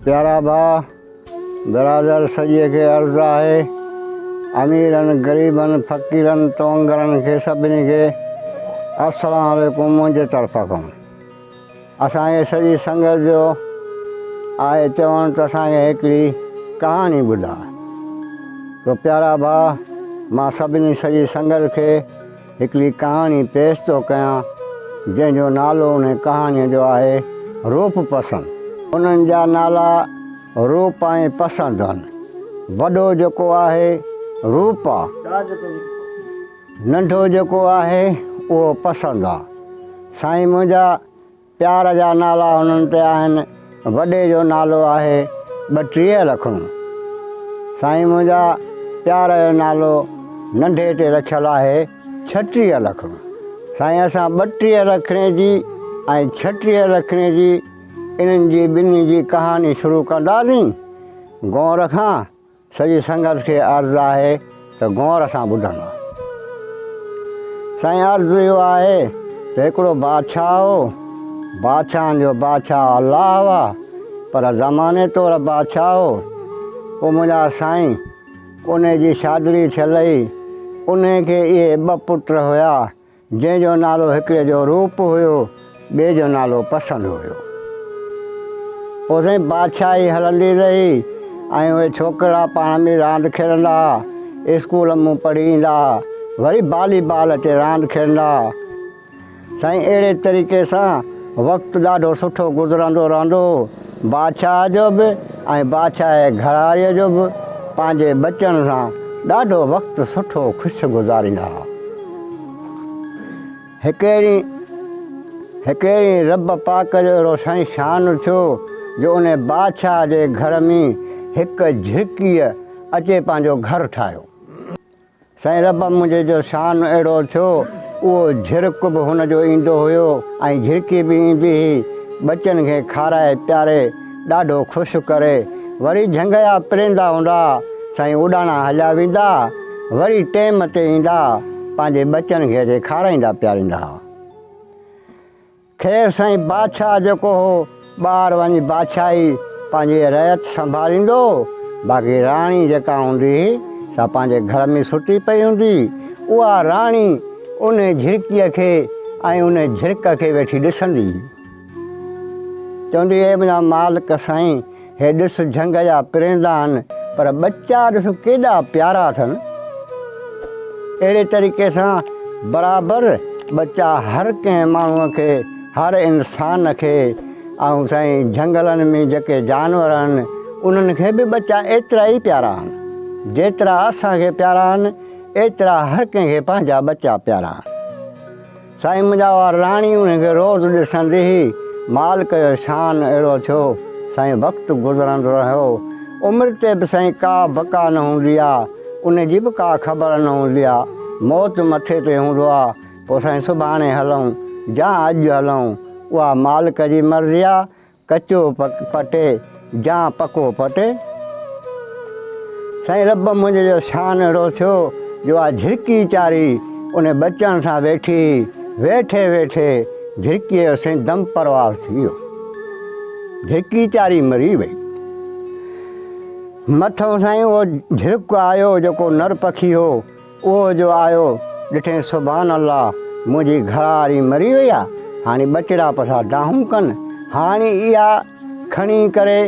پيارا ڀاء برادر سڄي کي عرض آهي اميرن غريبن فقيرن توانگرن کي سڀني کي السلام عليڪم منهنجي طرف کان اسان کي سڄي سنگت جو آهي چوڻ ته اسان کي هڪڙي ڪهاڻي ٻڌاء تو پيارا ڀاء مان سڀني سڄي سنگت کي هڪڙي ڪهاڻي پيش ٿو ڪيان، جنهن جو نالو انهيء ڪهاڻيء جو آهي، روپ پسند. انهن جا نالا روپ ۽ پسند هن. وڏو جيڪو آهي، روپ آ. ننڍو جيڪو آهي، اهو پسند آ. سائين منهنجا! پيار جا نالا هنن تي آهن وڏي جو نالو آهي ٻٽيهه لکڻو سائين منهنجا پيار جو نالو ننڍي تي رکيل آهي ڇٽيهه لکڻو سائين اسان ٻٽيهه لکڻي جي ۽ ڇٽيهه لکڻي جي انهن جي ٻنهي جي ڪهاڻي شروع ڪنداسين گونر کان سڄي سنگت کي عرض آهي ته غور سان ٻڌن. سائين عرض اهو آهي ته هڪڙو بادشاهه هو، بادشاهن جو بادشاهه الله هئا، پر زماني طور بادشاهه هو. او منهنجا سائين، انهي جي شادڙي ٿيل هئي، انهي کي اهي ٻه پٽ هيا، جنهن جو نالو هڪڙي جو روپ هيو ٻئي جو نالو پسند هيو پوء سائين بادشاهي هلندي رهي ۽ اهي ڇوڪرا پاڻ ۾ راند کيڏندا هئا اسڪول مون پڙهي ايندا هئا وري بالي بال اچي راند کيڏندا هئا سائين اهڙي طريقي سان وقت ڏاڍو سٺو گذرندو رهندو هو بادشاهه جو به ۽ بادشاهه گهراڙيء جو به پنهنجي ٻچن سان ڏاڍو وقت سٺو خوش گذاريندا هئا. هڪ ڏينهن هڪ ڏينهن رب پاڪ جو اهڙو سائين شان ٿيو جو ان بادشاهه جي گهر ۾ هڪ جهرڪيء اچي پنهنجو گهر ٺاهيو. سائين رب منهنجي جو شان اهڙو ٿيو، اهو جهرڪ به هن جو ايندو هيو ۽ جهرڪي به ايندي هئي، ٻچن کي کارائي پياري ڏاڍو خوش ڪري، وري جهنگيا پريندا هوندا، سائين اڏاڻا هليا ويندا، وري ٽيم تي ايندا، پنهنجي ٻچن کي اتي کارائيندا پياريندا هئا. خير سائين بادشاهه جيڪو هو ٻاهر وڃي بادشاهي پنهنجي رعيت سنڀاليندو هو باقي راڻي جيڪا هوندي هئي سا پنهنجي گهر ۾ ستي پئي هوندي هئي اها راڻي ان جھرڪيء کي ۽ ان جھرڪ کي ويٺي ڏسندي هئي چوندي هئي منهنجا مالڪ سائين هي ڏس جهنگ جا پريندا آهن پر ٻچا ڏس ڪيڏا پيارا اٿن. اهڙي طريقي سان برابر ٻچا هر ڪنهن ماڻهو کي هر انسان کي ۽ سائين جهنگلن ۾ جيڪي جانور آهن انهن کي به ٻچا ايترا ئي پيارا آهن جيترا اسان کي پيارا آهن ايترا هر ڪنهن کي پنهنجا ٻچا پيارا آهن. سائين منهنجا اها راڻي انهي کي روز ڏسندي هئي مالڪ جو شان اهڙو ٿيو سائين وقت گذرندو رهيو عمر تي به سائين ڪا بقا نه هوندي آ انهي جي به ڪا خبر نه هوندي آ موت مٿي تي هوندو آ پو سائين سڀاڻي هلون جا اڄ هلون اها مالڪ جي مرضي آ ڪچو پٽ جا پڪو پٽ. سائين رب منهنجي جو شان اهڙو ٿيو جو آء جهرڪي چاري ان ٻچن سان ويٺي ويٺي ويٺي جهرڪي جو سائين دم پروار ٿي ويو جهرڪي چاري مري وئي مٿو سائين اهو جهرڪ آيو جيڪو نر پکي هو اهو جو آيو ڏٺين سبحان الله منهنجي گهراڙي مري وئي آ هاڻي ٻچڙا پسا ڊاهون ڪن هاڻي اها کڻي ڪري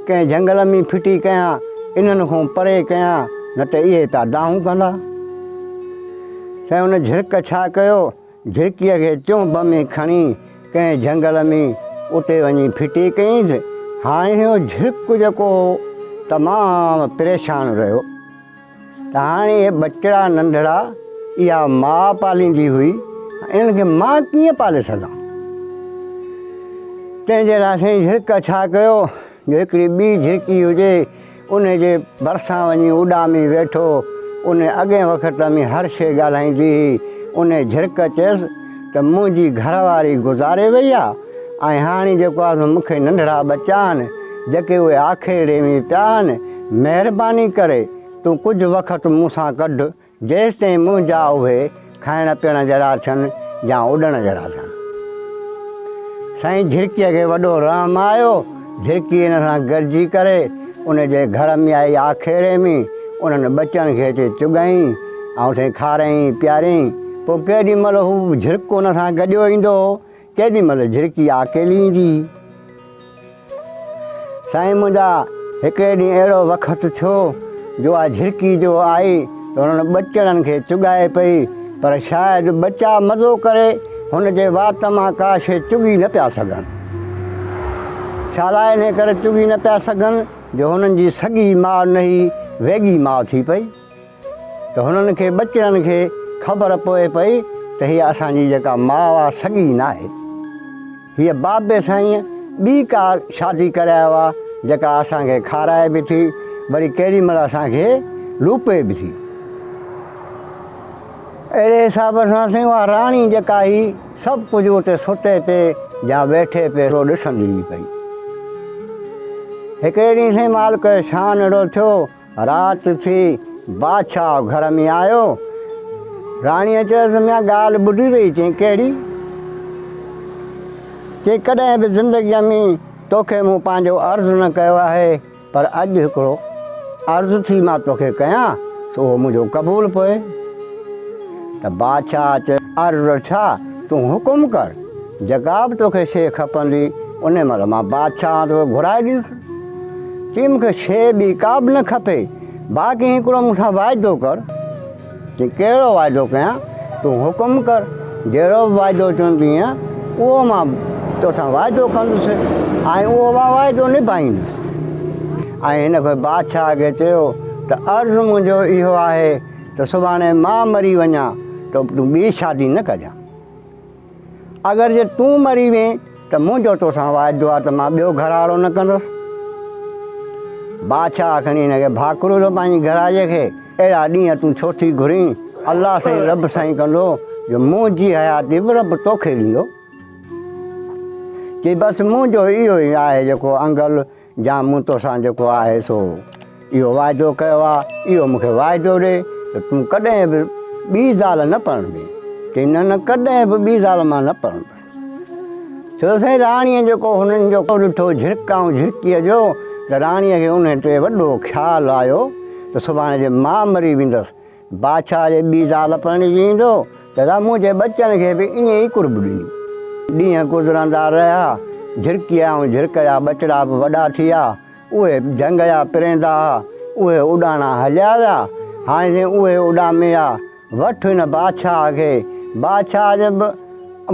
ڪنهن جهنگل ۾ ڦٽي ڪيان انهن کون پري ڪيان نه ته اهي تا ڊاهون ڪندا سائين ان جهرڪ ڇا ڪيو جهرڪي کي چونب ۾ کڻي ڪنهن جهنگل ۾ اتي وڃي ڦٽي ڪيس هاڻي اهو جهرڪ جيڪو تمام پريشان رهيو ته هاڻي هي ٻچڙا ننڍڙا اها ماء پاليندي هئي انهن کي مان ڪيئن پالي سگهان تنهن جي لاء سائين جھرڪ ڇا ڪيو جو هڪڙي ٻي جھرڪي هجي ان جي ڀرسان وڃي اڏامي ويٺو ان اڳئين وقت ۾ هر شيء ڳالهائيندي هئي ان جھرڪ چيس ته منهنجي گهر واري گذاري وئي آ ۽ هاڻي جيڪو آ سو مونکي ننڍڙا ٻچا آهن جيڪي اهي آکيڙي ۾ پيا آهن مهرباني ڪري تون ڪجهه وقت مون سان ڪڍ جيستائين منهنجا اهي کائڻ پيئڻ جهڙا ٿين يا اڏڻ جهڙا ٿين سائين جهرڪيء کي وڏو رحم آيو جھرڪي ان سان گڏجي ڪري ان جي گھر ۾ آئي آکيري ۾ انھن ٻچن کي اچي چگائين ۽ سائين کارائين پيارين پوء ڪيڏي مھل ھو جھرڪ ان سان گڏيو ايندو ھو ڪيڏي مھل جھرڪي آڪيلي ايندي ھئي سائين منھنجا ھڪڙي ڏينھن اھڙو وقت ٿيو جو آ جھرڪي جو آئي هنن ٻچڙن کي چڳائي پئي، پر شايد ٻچا مزو ڪري هن جي وات مان ڪا شيء چڳي نه پيا سگهن. ڇالاء انهيء ڪري چڳي نه پيا سگهن جو هنن جي سڳي ماء نهي ويڳي ماء ٿي پئي، ته هنن کي ٻچڙن کي خبر پوي پئي ته هيء اسان جي جيڪا ماء آ سڳي ناهي. هيء بابي سائينء ٻي ڪا شادي ڪرايو آ، جيڪا اسان کي کارائي به ٿي، وري ڪيڏي مهل اسان کي لوپي به ٿي. اهڙي حساب سان سائين اها راڻي جيڪا هئي، سڀ ڪجهه اتي ستي پي يا ويٺي پي سو ڏسندي ئي پئي. هڪڙي ڏينهن سائين مالڪ شان اهڙو ٿيو، رات ٿي، بادشاهه گهر ۾ آيو. راڻيء چيس، ميان ڳالهه ٻڌي اٿئي؟ چيائين، ڪهڙي؟ چيائين، ڪڏهن به زندگيء ۾ تو کي مون پنهنجو عرض نه ڪيو آهي، پر اڄ هڪڙو عرض ٿي مان تو کي ڪيان، سو اهو منهنجو قبول پوء. ته بادشاهه چيس، عرض ڇا؟ تون حڪم ڪر، جيڪا به تو کي شيء کپندي، انهي مهل مان بادشاهه هان تو کي گهرائي ڏيندس. چيائين مون کي شيء ٻي ڪا به نه کپي، باقي هڪڙو مون سان واعدو ڪر. چيائين ڪهڙو واعدو ڪيان؟ تون حڪم ڪر، جهڙو به واعدو چوندينء، اهو مان تو سان واعدو ڪندس ۽ اهو مان واعدو نڀائيندس. ۽ هن پوء بادشاهه کي چيو ته عرض منهنجو اهو آهي ته سڀاڻي مان مري وڃان ته تون ٻي شادي نه ڪجان. اگر جي تون مري وين ته منهنجو توسان واعدو آهي ته مان ٻيو گهراڙو نه ڪندس. بادشاهه کڻي هن کي ڀاڪرو ڏنو پنهنجي گهراڙيء کي اهڙا ڏينهن تون ڇو ٿي گهرين؟ الله سائين رب سائين ڪندو جو منهنجي حياتي به رب توکي ڏيندو. چي بس منهنجو اهو ئي آهي جيڪو انگل جا مون توسان جيڪو آهي سو اهو واعدو ڪيو آ اهو مون کي واعدو ڏي ته تون ڪڏهن به ٻي زال نه پرڻبين چي نه نه ڪڏهن به ٻي زال مان نه پرڻبين چيو سائين راڻي جيڪو هنن جو ڏٺو جھرڪائون جھرڪي جو ته راڻي کي ان تي وڏو خيال آيو ته سڀاڻي جي مان مري ويندس بادشاهه جي ٻي زال پرڻجي ايندو ته سا منهنجي ٻچن کي به ائين ئي قرب ڏيندي. ڏينهن گذرندا رهيا. جهرڪيء ۽ جهرڪ جا ٻچڙا به وڏا ٿي ويا. اهي جهنگ جا پريندا ها. اهي اڏاڻا هليا ويا. هاڻي جي اهي اڏامي ويا. وٺ هن بادشاهه کي. بادشاهه جي به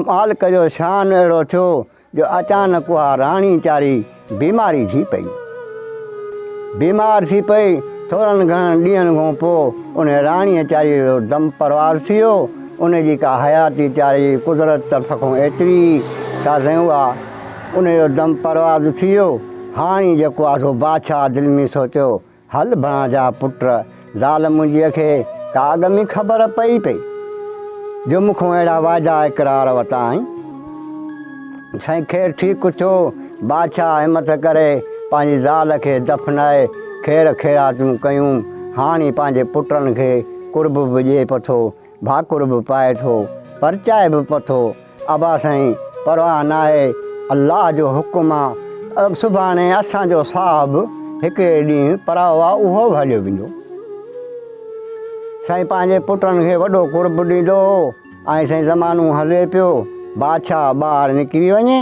مالڪ جو شان اهڙو ٿيو جو اچانڪ اها راڻي چاري بيماري ٿي پئي. بيمار ٿي پئي، ٿورن گهڻن ڏينهن کان پوء ان راڻي چاري جو دم پرواز ٿي ويو، ان جي ڪا حياتي چاري جي قدرت طرف کان ايتري ئي سازين هئا، ان جو دم پرواز ٿي ويو، هاڻي جيڪو آ سو بادشاهه دل ۾ سوچيو هل بڻا جا پٽ زال منهنجيء کي ڪا اڳ ۾ خبر پئي پئي جو مون کان اهڙا واعدا اقرار وتا آهين. سائين خير ٺيڪ ٿيو بادشاهه همٿ ڪري پنهنجي زال کي دفنائي خير خيراتون ڪيون هاڻي پنهنجي پٽن کي قرب به ڏئي پٿو ڀاڪر به پائي ٿو پرچائي به پٿو ابا سائين پرواهه ناهي الله جو حڪم آ سڀاڻي اسان جو صاحب هڪڙي ڏينهن پراهو آ اهو به هليو ويندو سائين پنهنجي پٽن کي وڏو قرب ڏيندو هو ۽ سائين زمانو هلي پيو بادشاهه ٻاهر نڪري وڃي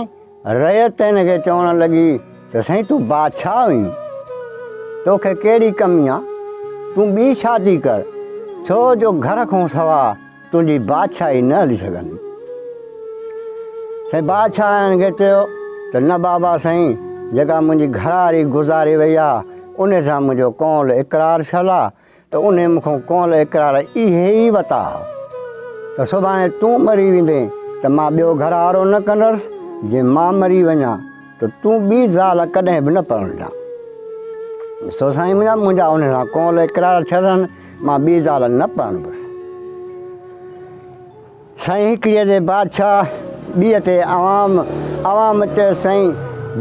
رعيت هن کي چوڻ لڳي ته سائين تون بادشاهه آهين توکي ڪهڙي ڪمي آ تون ٻي شادي ڪر ڇو جو گهر کان سوا تنهنجي بادشاهي نه هلي سگهندي. سائين بادشاهن کي چيو ته نه بابا سائين جيڪا منهنجي گهرواري گذاري وئي آ ان سان منهنجو قول اقرار ڇل آ ته انهي مون کان قول اقرار اهي ئي وتا ها ته سڀاڻي تون مري ويندين ته مان ٻيو گهروارو نه ڪندس جي مان مري وڃان ته تون ٻي زال ڪڏهن به نه پرڻجان. سو سائين منهنجا منهنجا انهن سان قول اقرار ٿيل آهن، مان ٻي زال نه پرڻبس. سائين هڪڙيء تي بادشاهه، ٻيء تي عوام. عوام چيس، سائين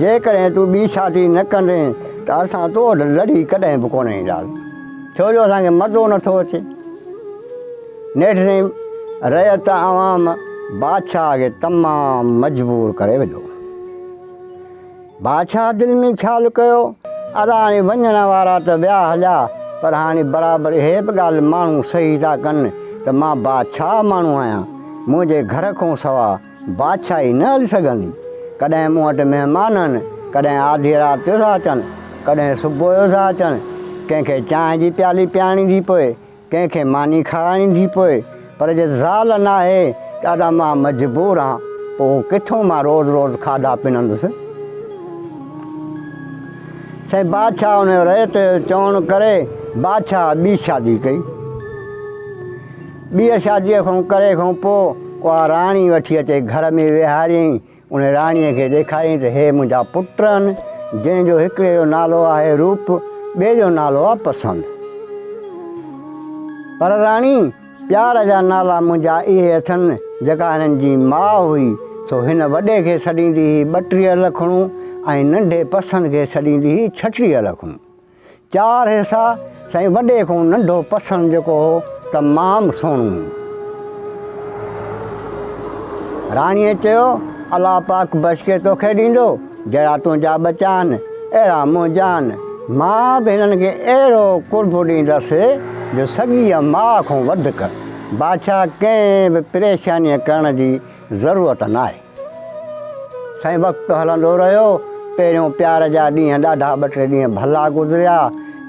جيڪڏهن تون ٻي شادي نه ڪندين ته اسان تو وٽ لڙي ڪڏهن به ڪونه اينداسين، ڇو جو اسان کي مزو نٿو اچي. نيٺريم رعيت عوام بادشاهه کي تمام مجبور ڪري وڌو. بادشاهه دل ۾ خيال ڪيو ادا هاڻي وڃڻ وارا ته ويا هليا پر هاڻي برابر اهي به ڳالهه ماڻهو صحيح ٿا ڪن ته مان بادشاهه ماڻهو آهيان منهنجي گهر کون سوا بادشاهي نه هلي سگهندي ڪڏهن مون وٽ مهمان آهن ڪڏهن آڌي رات جو ٿا اچن ڪڏهن صبح جو ٿا اچن ڪنهن کي چانهه جي پيالي پيارڻي ٿي پوي ڪنهن کي ماني کارائڻي ٿي پوء پر جي زال ناهي ته ادا مان مجبور آهان پوء ڪٿون مان روز روز کاڌا پنندس. سائين بادشاهه ان جو ريت چوڻ ڪري بادشاهه ٻي شادي ڪئي. ٻيء شاديء کان ڪري کان پوء اها راڻي وٺي اچي گهر ۾ ويهاريائين. ان راڻيء کي ڏيکاريائين ته هي منهنجا پٽ آهن، جنهن جو هڪڙي جو نالو آهي روپ، ٻئي جو نالو آهي پسند. پر راڻي، پيار جا نالا منهنجا اهي اٿن، جيڪا هنن جي ماء هئي، سو هن وڏي کي سڏيندي هئي ٻٽيهه لکڻون ۽ ننڍي پسند کي سڏيندي هئي ڇٽيهه لکڻون. چار حصا سائين وڏي کان ننڍو پسند جيڪو هو ته مام سونو. راڻيء چيو، الله پاڪ بچ کي توکي ڏيندو، جهڙا تنهنجا ٻچا آهن، اهڙا منهنجا آهن. مان به هنن کي اهڙو قرب ڏيندس جو سڳيء ماء کان وڌڪ. بادشاهه ڪنهن به پريشانيء ڪرڻ جي ضرورت ناهي. سائين وقت هلندو رهيو، پهريون پيار جا ڏينهن ڏاڍا ٻه ٽي ڏينهن ڀلا گذريا،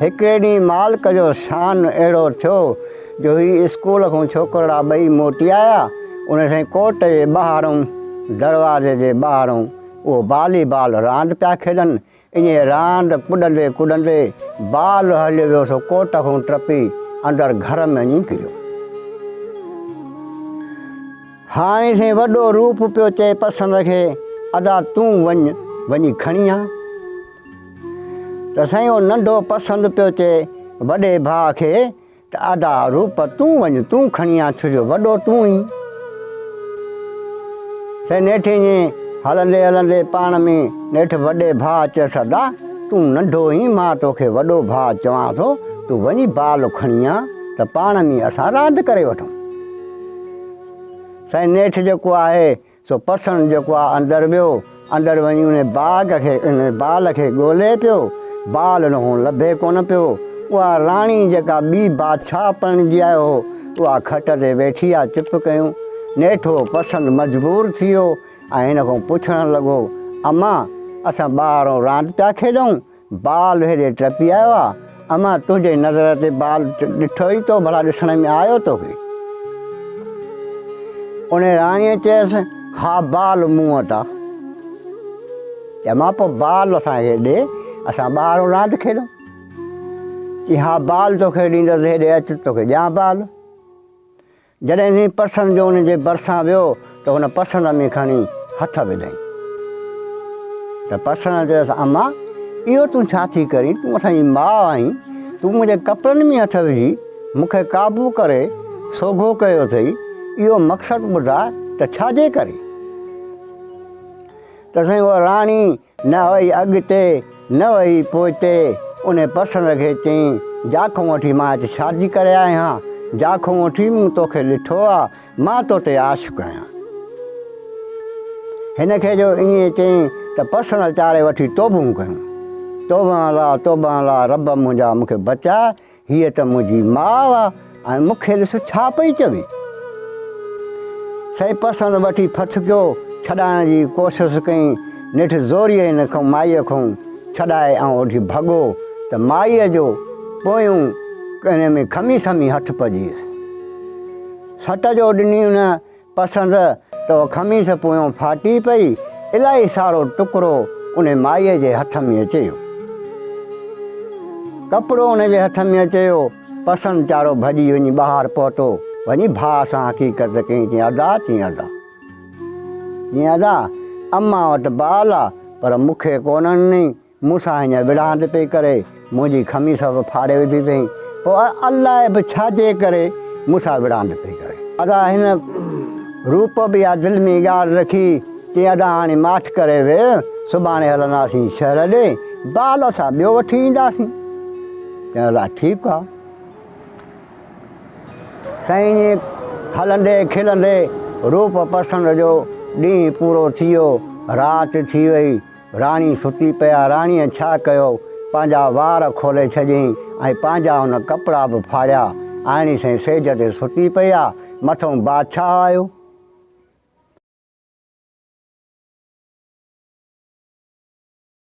هڪڙي ڏينهن مالڪ جو شان اهڙو ٿيو جو هي اسڪول کان ڇوڪرڙا ٻئي موٽي آيا، ان سائين ڪوٽ جي ٻاهرئون دروازي جي ٻاهرئون اهو بالي بال راند پيا کيڏن، انهيء راند ڪڏندي ڪڏندي بال هليو ويو سو ڪوٽ کان ٽپي اندر گهر ۾ وڃي ڪريو. هاڻي سائين وڏو روپ پيو چئي پسند کي، ادا تون وڃ وڃي کڻي آ. ته سائين اهو ننڍو پسند پيو چئي وڏي ڀاء کي ته ادا روپ تون وڃ تون کڻي آ ڇجو وڏو تون اين. سي نيٺ ائين هلندي هلندي پاڻ ۾ نيٺ وڏي ڀاء چيس ادا تون ننڍو اين مان توکي وڏو ڀاء چوان ٿو تون وڃي بال کڻي آ ته پاڻ ۾ اسان راند ڪري وٺون. سي نيٺ جيڪو آهي سو پسڻ جيڪو آ اندر ويو، اندر وڃي ان باغ کي ان بال کي ڳولي پيو، بال ان کان لڀي ڪونه پيو، اها راڻي جيڪا ٻي بادشاهه پرڻجي آيو هو، اها کٽ تي ويٺي آ چپ ڪيون. نيٺو پسڻ مجبور ٿي ويو ۽ هن کان پڇڻ لڳو، امان! اسان ٻاهران راند پيا کيڏون، بال هيڏي ٽپي آيو آ اما تنهنجي نظر تي بال ڏٺو ئي تو ڀلا ڏسڻ ۾ آيو توکي ان راڻيء چيس ها بال مون وٽ آ اما پو بال اسان کي ڏي اسان ٻاهر راند کيڏون چي ها بال توکي ڏيندس هيڏي اچ توکي ڏيان بال جڏهن ويهين پسند جو ان جي ڀرسان ويو ته هن پسند ۾ کڻي هٿ وڌائين ته پسند چيس اما اهو تون ڇا ٿي ڪرين تون اسان جي ماء آهين تون منهنجي ڪپڙن ۾ هٿ وجهي مون کي قابو ڪري سوگهو ڪيو اٿئي اهو مقصد ٻڌاء ته ڇا جي ڪري ته سائين اها راڻي نه هئي اڳتي، نه هئي پوئتي، انهي پسند کي چئين، جا کون وٺي مان هت شادي ڪري آئي هان، جا کون وٺي مون توکي ڏٺو آ، مان تو تي عاشق آهيان. هن کي جو ائين چئين ته پسند چاري وٺي توبهون ڪيون، توبهان الله، توبهان الله، رب منهنجا مون کي بچاء، هيء ته منهنجي ماء آ ۽ مون کي ڏس ڇا پئي چوي. سائين پسند وٺي ڦٿڪيو ڇڏائڻ جي ڪوشس ڪئي، نيٺ زوريء هن کون مائيء کون ڇڏائي آئون اوڍي ڀڳو ته مائيء جو پويون ڪني ۾ کمي سمي هٿ پڄيس. سٽ جو ڏني ان پسند تو خميس پويون ڦاٽي پئي، الائي سارو ٽڪرو ان مائيء جي هٿ ۾ اچيو. ڪپڙو ان جي هٿ ۾ اچيو. پسند ويچارو ڀڄي وڃي ٻاهر پهتو. وڃي ڀاء سان حقيقت ڪئي. چيائين ادا، چيائين ادا. چيائين ادا، امان وٽ بال آ، پر مون کي ڪونه ڏنئي. مون سان هينئر وڙهاند پئي ڪري، منهنجي خميس به ڦاڙي وڌي اٿئي، پوء الاء به ڇا جي ڪري مون سان وڙهاند پئي ڪري. ادا هن روپ به اها دل ۾ ڳالهه رکي، چيائين ادا هاڻي ماٺ ڪري ويهه، سڀاڻي هلنداسين شهر ڏي، بال اسان ٻيو وٺي اينداسين. چيائين ادا ٺيڪ آ. سائين ائين هلندي کلندي روپ پسند جو ڏينهن پورو ٿي ويو، رات ٿي وئي، راڻي ستي پئي آ. راڻيء ڇا ڪيو، پنهنجا وار کولي ڇڏيائين ۽ پنهنجا ان ڪپڙا به ڦاڙيا. آئيڻي سائين سيج تي ستي پئي آ. مٿئون بادشاهه آيو.